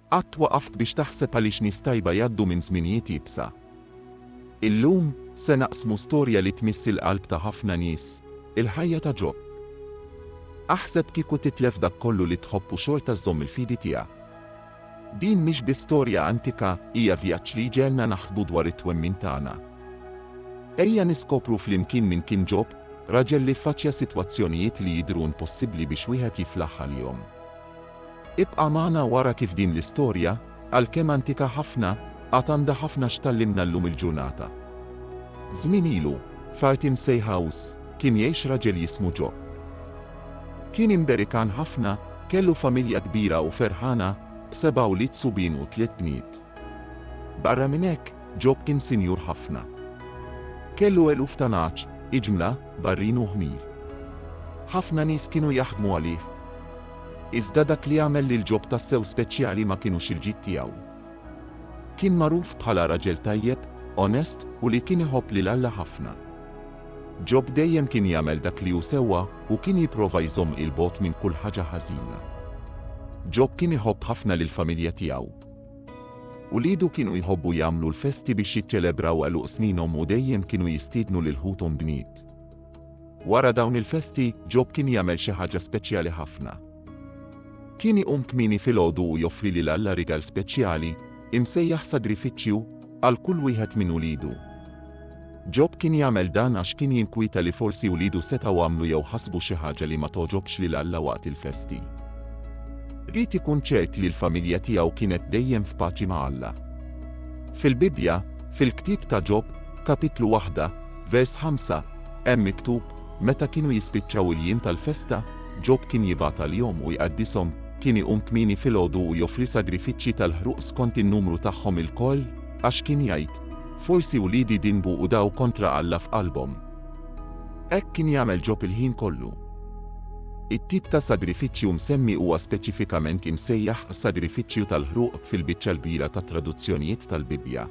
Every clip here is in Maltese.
Qatt waqaft biex taħseb għaliex nies tajba jgħaddu minn żminijiet iebsa? Illum, se naqsmu storja li tmiss il-qalb ta' ħafna nies, il-ħajja ta' Ġob. Aħseb kieku titlef dak kollu li tħobb u xorta żżomm il-fidi tiegħek. Din mhix biss storja antika, hija vjaġġ li jġegħelna naħsbu dwar it-twemmin tagħna. Ejja niskopru flimkien min kien Ġob, raġel li ffaċċja sitwazzjonijiet li jidhru impossibbli biex wieħed jiflaħ għalihom. Ibqa' magħna u ara kif din l-istorja, għalkemm antika ħafna, għad għandha ħafna x'tgħallimna llum il-ġurnata. Żmien ilu, f'art imsejħa Us, kien jgħix raġel jismu Ġob. Kien imberikan ħafna, kellu familja kbira u ferħana, b'seba' wlied subien u tliet bniet. Barra minn hekk, Ġob kien sinjur ħafna. Kellu eluf ta' nagħaġ, iġmla, barrin u ħmir. Ħafna nies kienu jaħdmu għalih. Iżda dak li għamel lil Ġob tassew speċjali ma kinux il-ġid tiegħu. Kien magħruf bħala raġel tajjeb, onest u li kien iħobb lil Alla ħafna. Ġob dejjem kien jagħmel dak li hu sewwa u kien jipprova jżomm 'il bogħod minn kull ħaġa ħażina. Ġob kien iħobb ħafna lill-familja tiegħu. Uliedu kienu jħobbu jagħmlu l-festi biex jiċċelebraw għeluq sninhom u dejjem kienu jistiednu lil ħuthom bniet. Wara dawn il-festi, Ġob kien jagħmel xi ħaġa speċjali ħafna. Kien iqum kmieni filgħodu u joffri lil Alla rigal speċjali, imsejjaħ sagrifiċċju, għal kull wieħed minn uliedu. Ġob kien jagħmel dan għax kien jinkwieta li forsi uliedu setgħu għamlu jew ħasbu xi ħaġa li ma togħġobx lil Alla waqt il-festi. Ried ikun ċert li l-familja tiegħu kienet dejjem f'paċi ma' Alla. Fil-Bibbja, fil-ktieb ta' Ġob, Kapitlu 1, Vers 5, Hemm miktub, Meta kienu jispiċċaw il-jiem tal-festa, Ġob kien jibgħat għalihom u jqaddishom, kien iqum kmieni filgħodu u joffri sagrifiċċji tal-ħruq skont in-numru tagħhom ilkoll, għax kien jgħid, Forsi wliedi dinbu u daw kontra Alla f'qalbhom. Hekk kien jagħmel Ġob il-ħin kollu. It-tip ta' sagrifiċċju msemmi huwa speċifikament imsejjaħ sagrifiċċju tal-ħruq fil-biċċa l-kbira tat-traduzzjonijiet tal-Bibbja.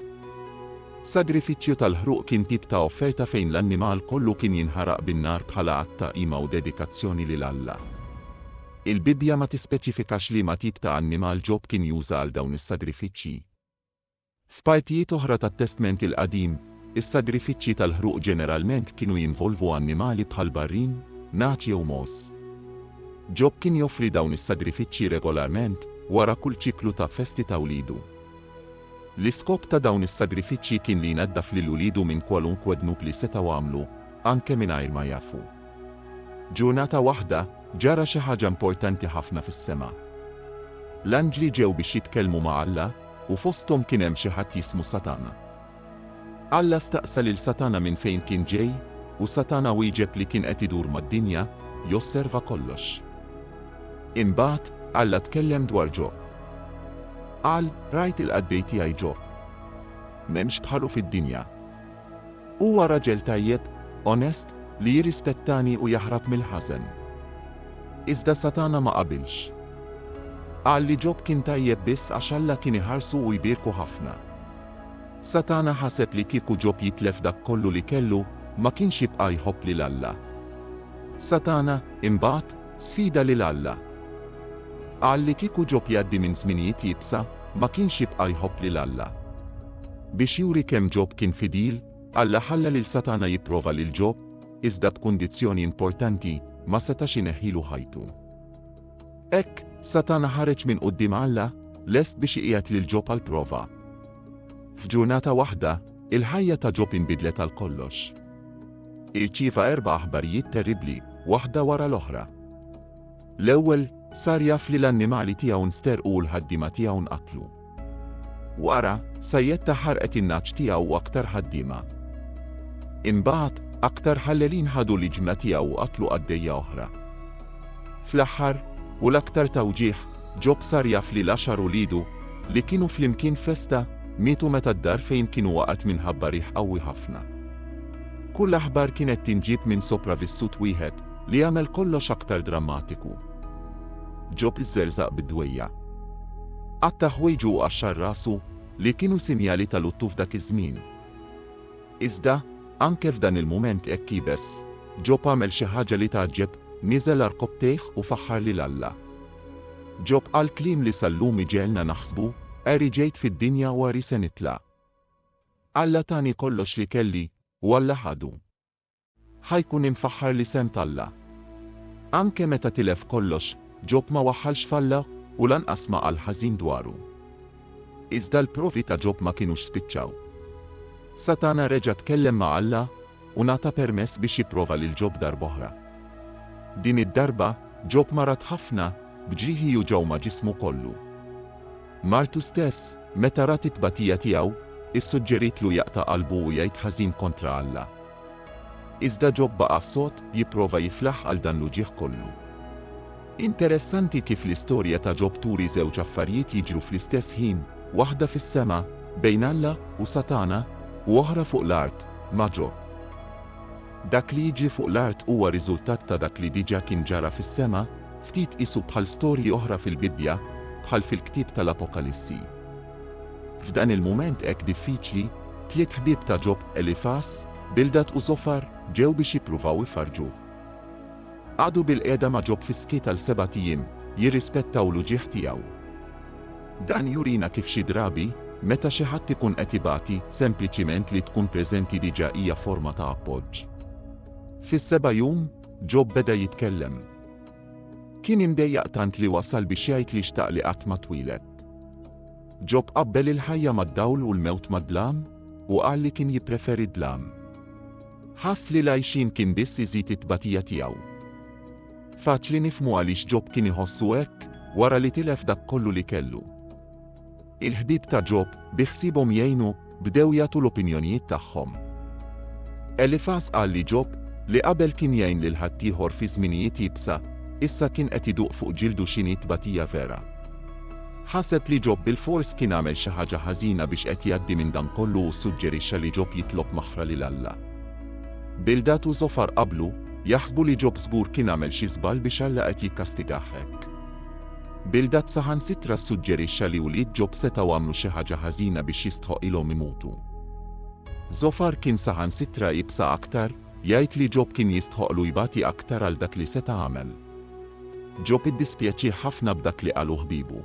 Sagrifiċċju tal-ħruq kien tip ta' offerta fejn l-annimal kollu kien jinħaraq bin-nar bħala att ta' qima u dedikazzjoni lil Alla. Il-Bibbja ma tispeċifikax liema tip ta' annimal Ġob kien juża għal dawn is-sagrifiċċji. F'partijiet oħra tat-Testment il-Qadim, is-sagrifiċċji tal-ħruq ġeneralment kienu jinvolvu annimali bħal barrin, nagħaġ jew mogħoż. Ġob kien joffri dawn is-sagrifiċċji regolarment wara kull ċiklu ta' festi ta' wlidu. L-iskop ta' dawn is-sagrifiċċji kien li jnaddaf lil uliedu minn kwalunkwe dnub li setgħu għamlu, anke mingħajr ma jafu. Ġurnata waħda, ġara xi ħaġa importanti ħafna fis-sema. L-anġli ġew biex jitkellmu ma' Alla, u fosthom kien hemm xi ħadd jismu Satana. Alla staqsa lil Satana minn fejn kien ġej, u Satana wieġeb li kien qed idur mad-dinja, josserva kollox. Imbagħad, Alla tkellem dwar Ġob. Qal, Rajt il-qaddej tiegħi Ġob. M'hemmx bħalu fid-dinja. Huwa raġel tajjeb, onest, li jirrispettani u jaħrab mill-ħażen. Iżda Satana ma qabilx. Qal li Ġob kien tajjeb biss għax Alla kien iħarsu u jbierku ħafna. Satana ħaseb li kieku Ġob jitlef dak kollu li kellu, ma kienx jibqa' jħobb lil Alla. Satana, imbagħad, sfida lil Alla. Qal li kieku Ġob jgħaddi minn żminijiet iebsa, ma kienx jibqa' jħobb lil Alla. Biex juri kemm Ġob kien fidil, Alla ħalla lil Satana jipprova lil Ġob, iżda b'kundizzjoni importanti, ma setax ineħħilu ħajtu. Hekk, Satana ħareġ minn quddiem Alla, lest biex iqiegħed lil Ġob għall-prova. F'ġurnata waħda, il-ħajja ta' Ġob inbidlet għal kollox. Irċieva erba' aħbarijiet terribbli, waħda wara l-oħra. L-ewwel, sar jaf li l-annimali tiegħu nsterqu u l-ħaddiema tiegħu nqatlu. Wara, sajjetta ħarqet in-nagħaġ tiegħu u aktar ħaddiema. Imbagħad, aktar ħallelin ħadu l-iġmla tiegħu u qatlu qaddejja oħra. Fl-aħħar, u l-aktar tawġieħ, Ġob sar jaf li l-għaxar uliedu, li kienu flimkien f'festa, mietu meta d-dar fejn kienu waqgħet minħabba riħ qawwi ħafna. Kull aħbar kienet tinġieb minn sopravissut wieħed, li għamel kollox aktar drammatiku. Ġob żerżaq bid-dwejjaq. Qatta' ħwejġu u qaxxar rasu, li kienu sinjali ta' luttu f'dak iż-żmien. Iżda, anke f'dan il-mument hekk iebes, Ġob għamel xi ħaġa li tgħaġġeb, niżel għal rkopptejh u faħħar lil Alla. Ġob qal kliem li sal-lum iġegħelna naħsbu, Għeri ġejt fid-dinja u għeri se nitla'. Alla tani kollox li kelli, u Alla ħadu. Ħa jkun imfaħħar l-isem t'Alla. Anke meta tilef kollox, Ġob ma waħħalx f'Alla u lanqas ma qal ħażin dwaru. Iżda l-provi ta' Ġob ma kinux spiċċaw. Satana reġa' tkellem ma' Alla u ngħata permess biex jipprova lil Ġob darb'oħra. Din id-darba, Ġob marad ħafna, b'ġieħi juġgħu ma' ġismu kollu. Martu stess, meta rat it-tbatija tiegħu, issuġġerietlu jaqta' qalbu u jgħid ħażin kontra Alla. Iżda Ġob baqa' sod, jipprova jiflaħ għal dan l-uġigħ kollu. Interessanti kif l-istorja ta' Ġob turi żewġ affarijiet jiġru fl-istess ħin, waħda fis-sema, bejn Alla u Satana, u oħra fuq l-art, ma' Ġob. Dak li jiġri fuq l-art huwa riżultat ta' dak li diġà kien ġara fis-sema, ftit qisu bħal storji oħra fil-Bibbja, bħal fil-ktieb tal-Apokalissi. F'dan il-mument hekk diffiċli, tliet ħbieb ta' Ġob, Elifas, Bildad u Żofar, ġew biex jippruvaw ifarrġuh. Qagħdu bilqiegħda ma' Ġob fis-skiet għal sebat ijiem, jirrispettaw l-uġigħ tiegħu. Dan jurina kif xi drabi, meta xi ħadd ikun qed ibati, sempliċiment li tkun preżenti diġà hija forma ta' appoġġ. Fis-seba' jum, Ġob beda jitkellem. Kien imdejjaq tant li wasal biex jgħid li xtaq li qatt ma twieled. Ġob qabbel il-ħajja mad-dawl u l-mewt mad-dlam, u qal li kien jippreferi d-dlam. Ħass li l-għixien kien biss iżid it-tbatija tiegħu. Faċli nifhmu għaliex Ġob kien iħossu hekk, wara li tilef dak kollu li kellu. Il-ħbieb ta' Ġob, bi ħsiebhom jgħinu, bdew jagħtu l-opinjonijiet tagħhom. Elifas qal li Ġob, li qabel kien jgħin lil ħaddieħor fi żminijiet iebsa, issa kien qed iduq fuq ġildu x'inhi t-tbatija vera. Ħaseb li Ġob bilfors kien għamel xi ħaġa ħażina biex qed jgħaddi minn dan kollu u ssuġġerixxa li Ġob jitlob maħfra lil Alla. Bildad u Żofar qablu, jaħsbu li Ġob żgur kien għamel xi żball biex Alla qed jikkastigah hekk. Bildad saħansitra ssuġġerixxa li wlied Ġob setgħu għamlu xi ħaġa ħażina biex jistħoqqilhom imutu. Żofar kien saħansitra ibsa aktar, Jgħid li Ġob kien jistħoqqlu jbati aktar għal dak li seta' għamel. Ġob iddispjaċih ħafna b'dak li qalu ħbiebu.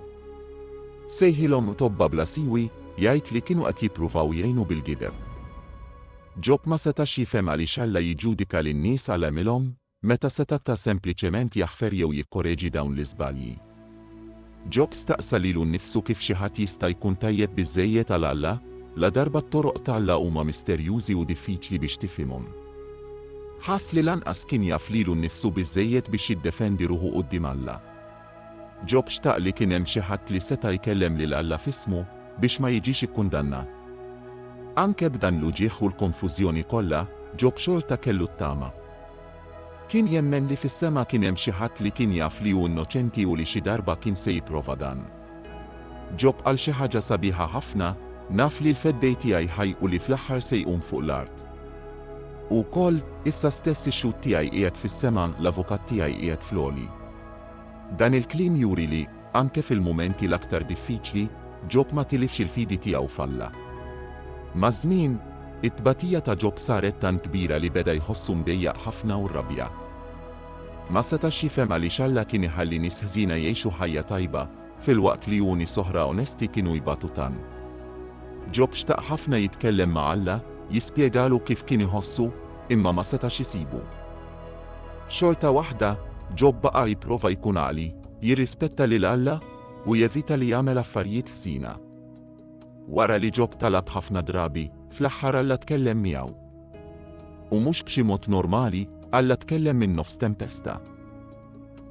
Sejħilhom tobba bla siwi, jgħid li kienu qed jippruvaw jgħinu bil-gideb. Ġob ma setax jifhem għaliex Alla jiġġudika lin-nies għal għemilhom, meta seta' ta' sempliċement jaħfer jew jikkoreġi dawn l-iżbalji. Ġob staqsa lilu nnifsu kif xi ħadd jista' jkun tajjeb biżżejjed għal Alla, ladarba t-toroq t'Alla huma misterjużi u diffiċli biex tifhimhom. Ħass li lanqas kien jaf lilu nnifsu biżżejjed biex jiddefendi ruħu quddiem Alla. Ġob xtaq li kien hemm xi ħadd li seta' jkellem lil Alla f'ismu biex ma jiġix ikkundannat. Anke b'dan l-uġigħ u l-konfużjoni kollha, Ġob xorta kellu t-tama. Kien jemmen li fis-sema kien hemm xi ħadd li kien jaf li hu innoċenti u li xi darba kien se jipprova dan. Ġob qal xi ħaġa sabiħa ħafna, Naf li l-Feddej tiegħi ħaj u li fl-aħħar se jqum fuq l-art. U wkoll, issa stess ix-xhud tiegħi qiegħed fis-sema, l-avukat tiegħi qiegħed fl-għoli. Dan il-kliem juri li, Anke fil-mumenti l-aktar diffiċli, Ġob ma tilifx il-fidi tiegħu f'Alla. Maż-żmien, it-tbatija ta' Ġob saret tant kbira li beda jħossu mdejjaq ħafna u rrabjat. Ma setax jifhem għaliex Alla kien iħalli nies ħżiena jgħixu ħajja tajba, filwaqt li hu nies oħra onesti kienu jbatu tant. Ġob xtaq ħafna jitkellem ma' Alla, jispjegalu kif kien iħossu, imma ma setax isibu. Xorta waħda, Ġob baqa' jipprova jkun għaqli, Jirrispetta lil Alla u jevita li jagħmel affarijiet ħżina. Wara li Ġob talab ħafna drabi, fl-aħħar Alla tkellem miegħu. U mhux b'xi mod normali, Alla tkellem minn nofs tempesta.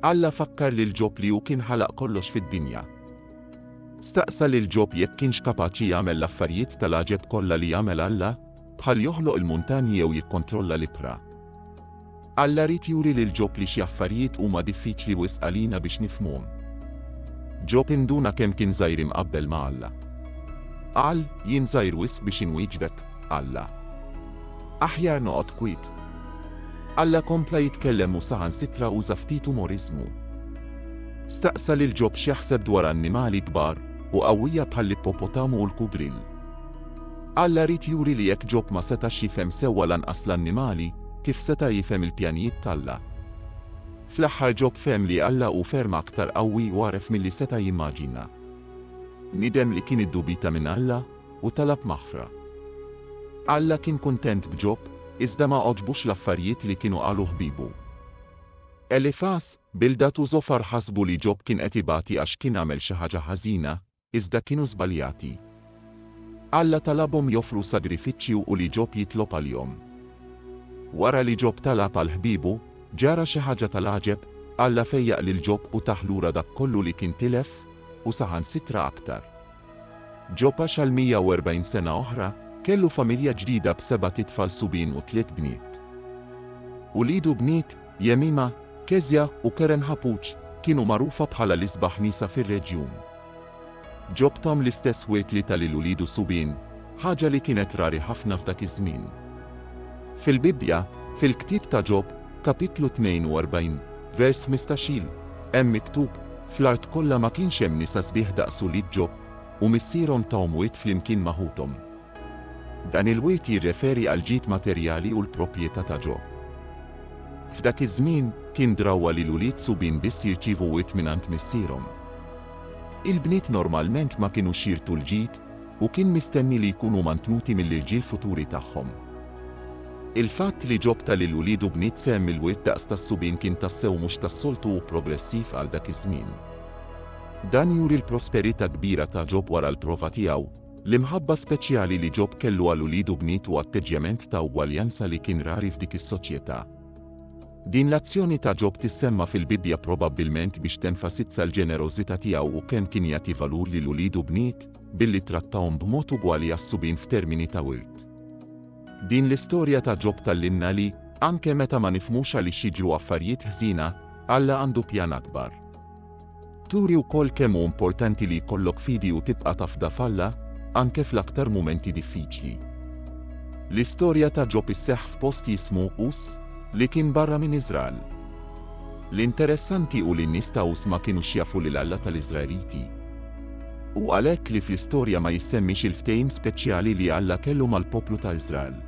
Alla fakkar lil Ġob li hu kien ħalaq kollox fid-dinja. Staqsa lil Ġob jekk kienx kapaċi jagħmel l-affarijiet tal-għaġeb kollha li jagħmel Alla, bħal joħloq il-muntanji jew jikkontrolla l-ibħra. Alla ried juri lil Ġob li xi affarijiet huma diffiċli wisq għalina biex nifhmuhom. Ġob induna kemm kien żgħir imqabbel ma' Alla. Qal, Jien żgħir wisq biex inwieġbek, Alla. Aħjar noqgħod kwiet. Alla kompla jitkellem u saħansitra uża ftit umoriżmu. Staqsa lil Ġob x'jaħseb dwar annimali kbar u qawwija bħall-ippopotamu u l-kugrill. Alla ried juri li jekk Ġob ma setax jifhem sewwa lanqas l-annimali, kif seta' jifhem il-pjanijiet t'Alla? Fl-aħħar Ġob fehem li Alla hu ferm aktar qawwi u agħref milli seta' jimmaġina. Bniedem li kien iddubita minn Alla u talab maħfra. Alla kien kuntent b'Ġob, iżda ma għoġbux l-affarijiet li kienu qalu ħbiebu. Elifas, Bildad u Żofar ħasbu li Ġob kien qed ibati għax kien għamel xi ħaġa ħażina, iżda kienu żbaljati. Alla talabhom joffru sagrifiċċju u li Ġob jitlob għalihom. Wara li Ġob talab għal ħbiebu, ġara xi ħaġa tal-għaġeb, Alla fejjaq lil Ġob u tah lura dak kollu li kien tilef, u saħansitra aktar. Ġob għax għal 140 sena oħra, kellu familja ġdida b'sebat itfal subien u tliet bniet. Uliedu bniet, Jemima, Kezia u Keren Hapooj kienu magħrufa bħala l-isbaħ nisa fir-reġjun. Ġobthom l-istess wied li ta lil uliedu subien, ħaġa li kienet rari ħafna f'dak iż-żmien. Fil-Bibbja, fil-ktieb ta' Ġob, kapitlu 42, vers ħmistax-il, hemm miktub, Fl-art kollha ma kienx hemm nisa sbieħ daqs ulied Ġob, u missierhom tahom wied flimkien ma' ħuthom. Dan il-wirt jirreferi għall-ġid materjali u l-propjetà ta' ġo. F'dak iż-żmien, kien drawwa li l-ulied subien biss jirċievu wirt mingħand missierhom. Il-bniet normalment ma kinux jirtu l-ġid u kien mistenni li jkunu mantnuti mill-irġiel futuri tagħhom. Il-fatt li Ġob ta lil uliedu bniet sehem mill-wirt daqs tas-subien kien tassew mhux tas-soltu u progressiv għal dak iż-żmien. Dan juri l-prosperità kbira ta' Ġob wara l-prova tiegħu. L-imħabba speċjali li Ġob kellu għal ulied u bnietu atteġġjament ta' ugwaljanza li kien rari f'dik is-soċjetà. Din l-azzjoni ta' Ġob tissemma fil-Bibbja probabbilment biex tenfasizza l-ġenerożità tiegħu u kemm kien jagħti valur lil ulied u bniet, billi ttrattahom b'mod ugwali għas-subien f'termini ta' wirt. Din l-istorja ta' Ġob tgħallimna li, anke meta ma nifhmux għaliex jiġru affarijiet ħżiena, Alla għandu pjan akbar. Turi wkoll kemm hu importanti li jkollok fidi u tibqa' tafda f'Alla, anke fl-aktar mumenti diffiċli. L-istorja ta' Ġob isseħħ f'post jismu Us, li kien barra minn Iżrael. L-interessanti hu li n-nies ta' Us ma kinux jafu lil Alla tal-Iżraeliti. Hu għalhekk li fl-istorja ma jissemmix il-ftehim speċjali li Alla kellu mal-poplu ta' Iżrael.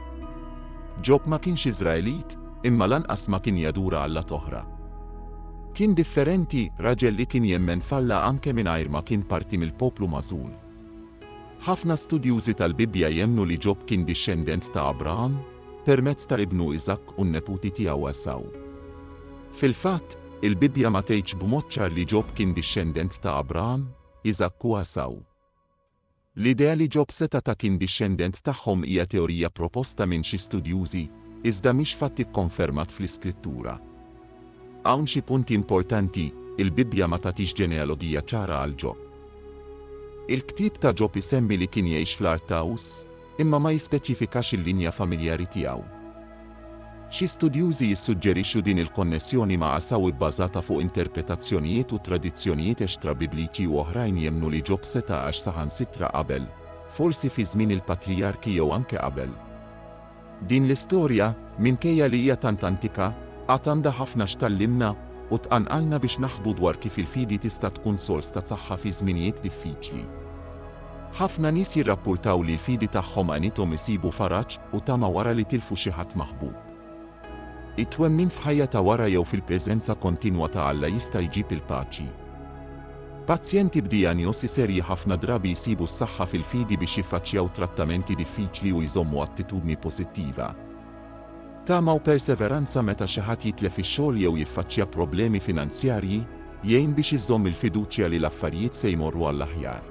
Ġob ma kienx Iżraelit, imma lanqas ma kien jadura allat oħra. Kien differenti, raġel li kien jemmen f'Alla anke mingħajr ma kien parti mill-poplu magħżul. Ħafna studjużi tal-Bibbja jemmnu li Ġob kien dixxendent ta' Abraham, permezz ta' ibnu Iżakk u n-neputi tiegħu Għesaw. Fil-fatt, il-Bibbja ma tgħidx b'mod ċar li Ġob kien dixxendent ta' Abraham, Iżakk u Għesaw. L-idea li Ġob seta' ta' kien dixxendent tagħhom hija teorija proposta minn xi studjużi, iżda mhix fatt ikkonfermat fl-Iskrittura. Hawn xi punti importanti, il-Bibbja ma tagħtix ġenealogija ċara għal Ġob. Il-ktieb ta' Ġob isemmi li kien jgħix fl-art ta' Uz. imma ma jispeċifikax il-linja familjari tiegħu. Xi studjużi jissuġġerixxu din il-konnessjoni ma' Għasaw ibbażata fuq interpretazzjonijiet u tradizzjonijiet extra-Bibliċi u oħrajn jemmnu li Ġob seta' għax saħansitra qabel, forsi fi żmien il-patrijarki jew anke qabel. Din l-istorja, minkejja li hija tant antika, għad għandha ħafna x'tgħallimna u tqanqalna biex naħsbu dwar kif il-fidi tista' tkun sors ta' saħħa fi żminijiet diffiċli. Ħafna nies jirrappurtaw li l-fidi tagħhom għenithom isibu faraġ u tama wara li tilfu xi ħadd maħbub. It-twemmin f'ħajja ta' wara jew fil-preżenza kontinwa ta' Alla jista' jġib il-paċi. Pazjenti b'dijanjosi serji ħafna drabi jsibu s-saħħa fil-fidi biex jiffaċċjaw trattamenti diffiċli u jżommu attitudni pożittiva. Tama u perseveranza meta xi ħadd jitlef ix-xogħol jew jiffaċċja problemi finanzjarji jgħin biex iżżomm il-fiduċja li l-affarijiet se jmorru għall-aħjar.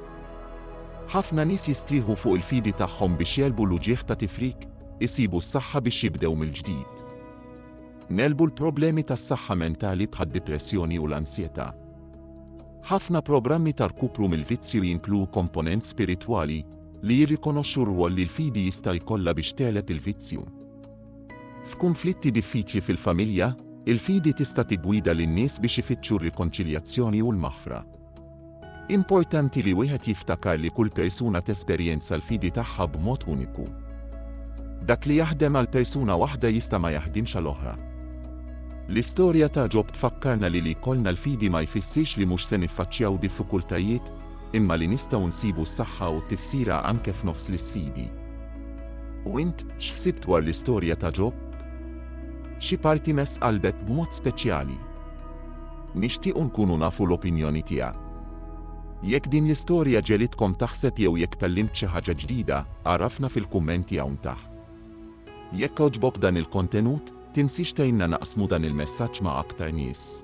Ħafna nies jistrieħu fuq il-fidi tagħhom biex jegħlbu l-uġigħ ta' tifrik, isibu s-saħħa biex jibdew mill-ġdid. Negħlbu l-problemi tas-saħħa mentali bħad-dipressjoni u l-ansjetà. Ħafna programmi ta' rkupru mill-vizzju jinkluw komponent spiritwali, li jirrikonoxxu r-rwol li l-fidi jista' jkollha biex tegħleb il-vizzju. F'kunflitti diffiċli fil-familja, il-fidi tista' tiggwida lin-nies biex ifittxu r-rikonċiljazzjoni u l-maħfra. Importanti li wieħed jiftakar li kull persuna tesperjenza l-fidi tagħha b'mod uniku. Dak li jaħdem għal persuna waħda jista' ma jaħdimx għal oħra. L-istorja ta' Ġob tfakkarna li li jkollna l-fidi ma jfissirx li mhux se niffaċċjaw diffikultajiet, imma li nistgħu nsibu s-saħħa u t-tifsira anke f'nofs l-isfidi. U int, x'ħsibt dwar l-istorja ta' Ġob? Xi parti mess qalbek b'mod speċjali? Nixtiequ nkunu nafu l-opinjoni tiegħek. Jekk din l-istorja ġegħlitkom taħseb jew jekk tgħallimt xi ħaġa ġdida, għarrafna fil-kummenti hawn taħt. Jekk għoġbok dan il-kontenut, tinsiex tgħinna naqsmu dan il-messaġġ ma' aktar nies.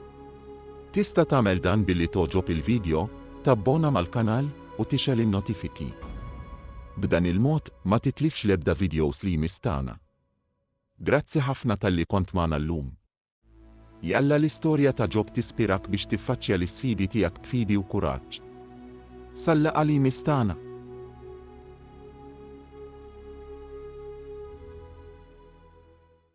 Tista' tagħmel dan billi togħġob il-vidjo, tabbona mal-kanal, u tixgħel in-notifiki. B'dan il-mod ma titlifx l-ebda vidjos li jmiss tagħna. Grazzi ħafna talli kont magħna llum. Jalla l-istorja ta' Ġob tispirak biex tiffaċċja l-isfidi tiegħek b'fidi u kuraġġ. Sal-laqgħa li jmiss tagħna!